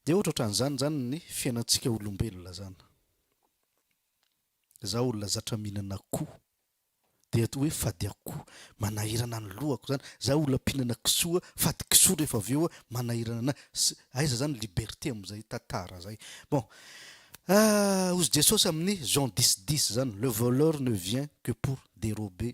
Dia ohatra ohatran'izany izany ny fiainantsika olombelona izany. Izaho olona zatra mihinana akoho, dia toa hoe fady akoho, manahirana ny lohako izany. Izaho olona mpihinana kisoa, fady kisoa rehefa avy eo, manahirana ny ahy. Aiza izany ny liberté amin'izay tantara izay? Bon, hozy Jesosy amin'ny Jean dix dix izany, le voleur ne vient que pour dérober,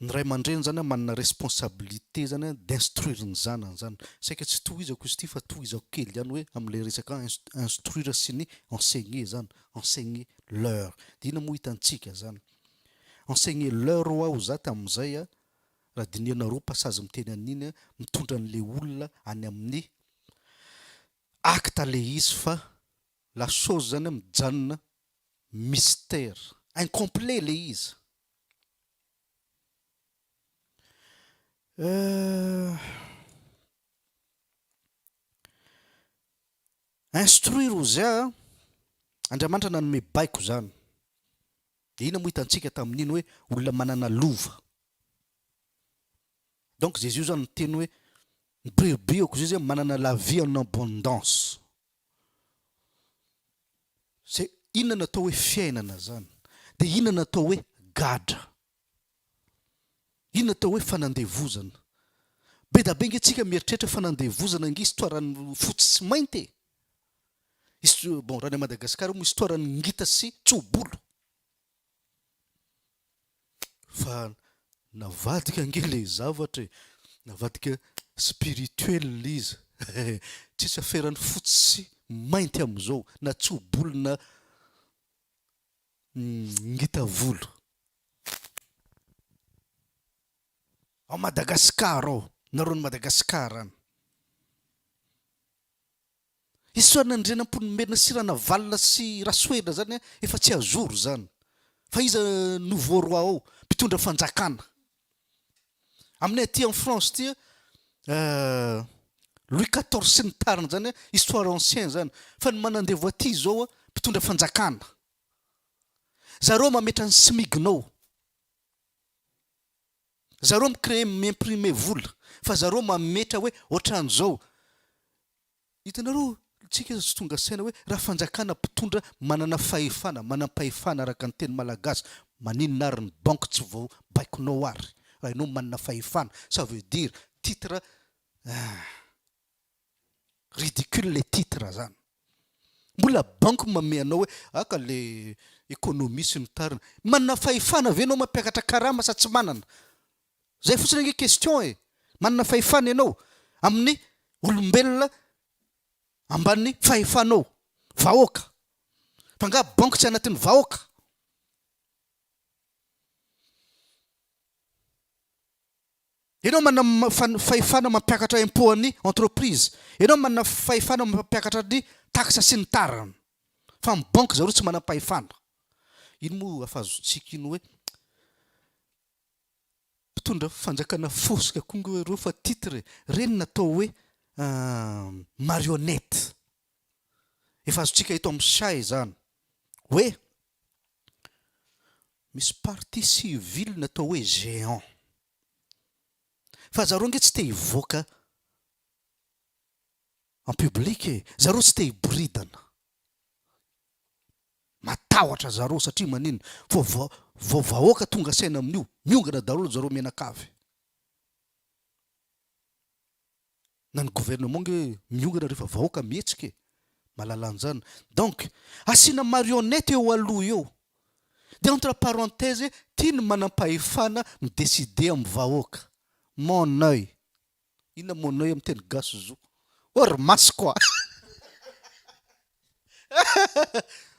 Ny ray aman-dreny zany manana responsabilité zany an d'instruire ny zanany zany. Saika tsy tohizako izy ity fa tohizako kely ihany hoe amin'ilay resaka instruire sy ny enseigner zany, enseigner leur. Dia inona moa hitantsika zany? Enseigner leur ho aho za tamin'izay an, raha dinihanareo passage miteny an'iny an, mitondra an'ilay olona any amin'ny acte ilay izy fa la chose zany an mijanona mystère, incomplet ilay izy. Instruire Ozia a, Andriamanitra nanome baiko izany. Dia inona moa hitantsika tamin'iny hoe olona manana lova. Donc Jésus izany miteny hoe ny brebis ao kozia izay manana la vie en abondance. Zay, inona no atao hoe fiainana zany? Dia inona no atao hoe gadra? Inona atao hoe fanandevozana? Bedabe nge tsika mieritreritra fanandevozana nge histoire an'ny fotsy sy mainty e! His- bon, raha any Madagascar moa histoire an'ny ngita sy tso-bolo. Fa navadika ange le zavatra e! Navadika spirituel izy eh! Tsisy aferan'ny fotsy sy mainty amin'izao na tso-bolo na ngita volo. Ao Madagascar ao, nareo any Madagascar any. Isaorana Andriana Ampoinimerina sy Ranavalona sy Rasoherina zany an, efa tsy azoro zany. Fa iza nouveau roi ao? Mpitondra fanjakana. Aminay aty en France ty an, Louis quatorze sy ny tariny zany an, histoire ancien zany. Fa ny manandevo aty izao an, mpitondra fanjakana. Zareo mametra ny smignao. Zareo mi créer, mi imprimer vola fa zareo mametra hoe otran'izao. Hitanareo tsika tsy tonga saina hoe raha fanjakana mpitondra manana fahefana, manam-pahefana araka ny teny malagasy, maninona ary ny banque tsy vao baikonao ary raha enao manana fahefana, ça veut dire titre, ah. Ridicule le titre zany. Mbola banky mamehy anao hoe ah ka le economie sy ny tariny. Manana fahefana ve enao mampiakatra karama sa tsy manana? Zay fotsiny ange question e! Manana fahefana enao amin'ny olombelona ambanin'ny fahefanao. Vahoaka. Fa nga banky tsy anatin'ny vahoaka? Ianao manana fahefana mampiakatra impôt an'ny entreprise. Ianao manana fahefana mampiakatra ny taxe sy ny tariny. Fa ny banque zareo tsy manam-pahefana. Iny moa afazotsika iny hoe mpitondra fanjakana fosika koa ngo ireo fa titre e. Ireny natao hoe marionnette. Efa azontsika eto amin'ny chat izany hoe Misy partie civile natao hoe géant. Fa zareo ange tsy te hivoaka en public e! Zareo tsy te hiboridana. Matahotra zareo satria manino? Fa vao vao vahoaka tonga saina amin'io, miongana daholo zareo mianakavy. na ny gouvernement nge miongana refa vahoaka mihetsika e! malalanjana donc asiana marionnette eo aloha eo de entre parenthèse ty ny manampahefana mi decider am vahoaka mon oeil inona mon oeil am teny gasy zo or masoko a!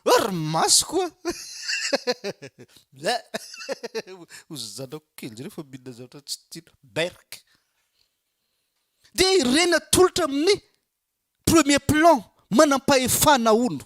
Ohh ry masoko a! Bleh! Hozy zanako kely jereo fa mihinana zavatra tsy tiana. Berk! Dia i Reny atolotra amin'ny premier plan, manam-pahefana hono.